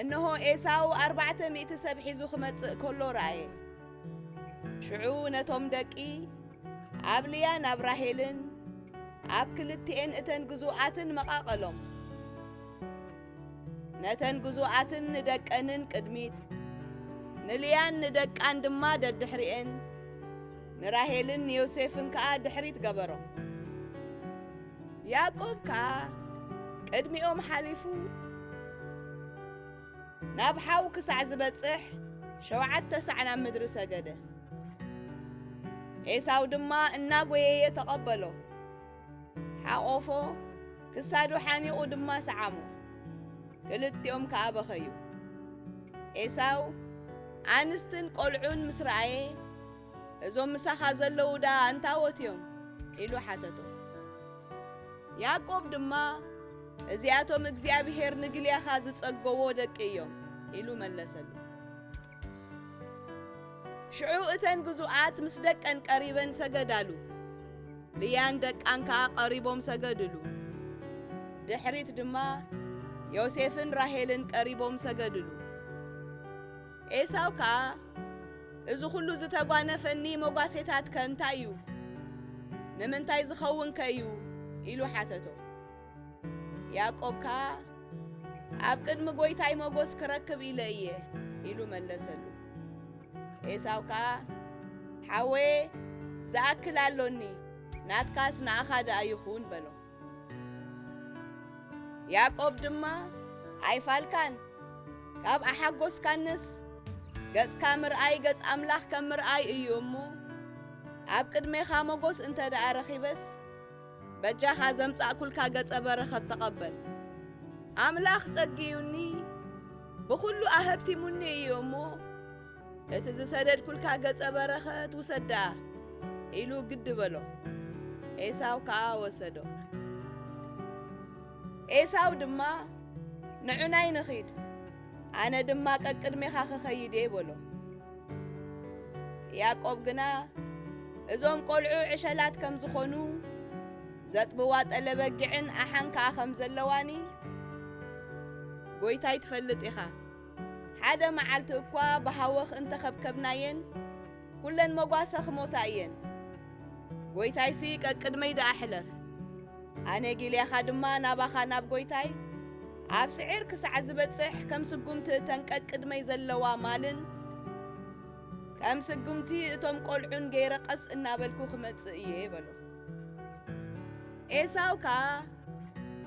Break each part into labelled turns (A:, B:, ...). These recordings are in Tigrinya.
A: እንሆ፣ ኤሳው ኣርባዕተ ሚእቲ ሰብ ሒዙ ኺመጽእ ከሎ ረኣየ። ሽዑ ነቶም ደቂ ኣብ ልያ ናብ ራሄልን ኣብ ክልቲኤን እተን ግዙኣትን መቓቐሎም። ነተን ግዙኣትን ንደቀንን ቅድሚት፣ ንልያን ንደቃን ድማ ደድሕሪኤን፣ ንራሄልን ንዮሴፍን ከኣ ድሕሪት ገበሮም። ያእቆብ ከኣ ቅድሚኦም ሓሊፉ ናብ ሓው ክሳዕ ዝበጽሕ ሸውዓተ ሳዕ ናብ ምድሪ ሰገደ። ኤሳው ድማ እናጐየየ ተቐበሎ። ሓቖፎ፣ ክሳዱ ሓኒቑ ድማ ሰዓሞ። ክልቲኦም ከኣ በኸዩ። ኤሳው ኣንስትን ቈልዑን ምስ ረኣየ፣ እዞም ምሳኻ ዘለዉ ደኣ እንታዎት እዮም? ኢሉ ሓተቶ። ያዕቆብ ድማ እዚኣቶም እግዚኣብሄር ንግልያኻ ዝጸገዎ ደቂ እዮም ኢሉ መለሰሉ። ሽዑ እተን ግዙኣት ምስ ደቀን ቀሪበን ሰገዳሉ፣ ልያን ደቃን ከኣ ቀሪቦም ሰገድሉ። ድሕሪት ድማ ዮሴፍን ራሄልን ቀሪቦም ሰገድሉ። ኤሳው ከኣ እዚ ዅሉ ዝተጓነፈኒ መጓሴታትከ እንታይ እዩ? ንምንታይ ዝኸውንከ እዩ? ኢሉ ሓተቶ። ያዕቆብ ከኣ ኣብ ቅድሚ ጐይታይ መጐስ ክረክብ ኢለ እየ ኢሉ መለሰሉ። ኤሳው ከኣ ሓወየ ዝኣክል ኣሎኒ፣ ናትካስ ንኣኻ ደኣ ይኹን በሎ። ያዕቆብ ድማ ኣይፋልካን ካብ ኣሓጐስካንስ ገጽካ ምርኣይ ገጽ ኣምላኽ ከም ምርኣይ እዩ እሞ ኣብ ቅድሜኻ መጐስ እንተ ደኣ ረኺበስ በጃኻ ዘምጻእኩልካ ገጸ በረኸት ተቐበል። ኣምላኽ ጸግዩኒ ብኹሉ ኣሀብቲሙኒ እዩ እሞ እቲ ዝሰደድኩልካ ገጸ በረኸት ውሰድ ደኣ ኢሉ ግዲ በሎ። ኤሳው ከኣ ወሰዶ። ኤሳው ድማ ንዑናይ ንኺድ ኣነ ድማ ቀቅድሜኻ ኽኸይድ እየ በሎ ያዕቆብ ግና እዞም ቈልዑ ዕሸላት ከም ዝኾኑ ዘጥብዋ ጠለበጊዕን ኣሓን ከኣ ከም ዘለዋኒ ጐይታይ ትፈልጥ ኢኻ ሓደ መዓልቲ እኳ ብሃወኽ እንተኸብከብናየን ኩለን መጓሰ ክሞታ እየን። ጐይታይሲ ቀቅድመይ ደኣ ሕለፍ፣ ኣነ ጊልያኻ ድማ ናባኻ ናብ ጐይታይ ኣብ ስዒር ክሳዕ ዝበጽሕ ከም ስጉምቲ እተን ቀቅድመይ ዘለዋ ማልን ከም ስጉምቲ እቶም ቈልዑን ገይረ ቀስ እናበልኩ ክመጽእ እየ በሎ። ኤሳው ከኣ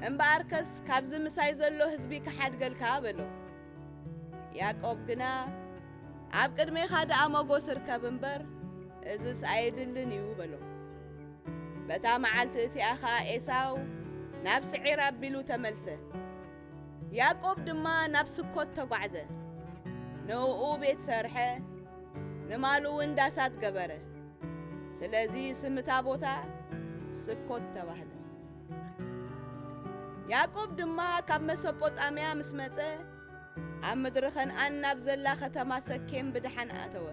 A: እምበኣርከስ ካብዚ ምሳይ ዘሎ ህዝቢ ክሓድገልካ በሎ። ያእቆብ ግና፣ ኣብ ቅድሜኻ ደኣ መጎስ እርከብ እምበር፣ እዝስ ኣየድልን እዩ በሎ። በታ መዓልቲ እቲኣ ኸኣ ኤሳው ናብ ስዒር ኣቢሉ ተመልሰ። ያእቆብ ድማ ናብ ስኮት ተጓዕዘ፣ ንእኡ ቤት ሰርሐ፣ ንማሉውን ዳሳት ገበረ። ስለዚ ስም እታ ቦታ ስኮት ተባህለ። ያእቆብ ድማ ካብ መሶጶጣምያ ምስ መጸ ኣብ ምድሪ ኸንኣን ናብ ዘላ ኸተማ ሰኬም ብድሓን ኣተወ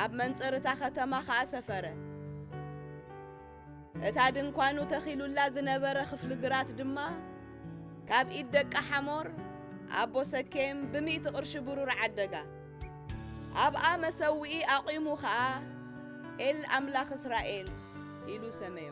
A: ኣብ መንጽርታ ኸተማ ኸኣ ሰፈረ እታ ድንኳኑ ተኺሉላ ዝነበረ ኽፍሊ ግራት ድማ ካብ ኢድ ደቂ ሓሞር ኣቦ ሰኬም ብሚእቲ ቕርሺ ብሩር ዓደጋ ኣብኣ መሰውኢ ኣቚሙ ኸኣ ኤል ኣምላኽ እስራኤል ኢሉ ሰመዮ።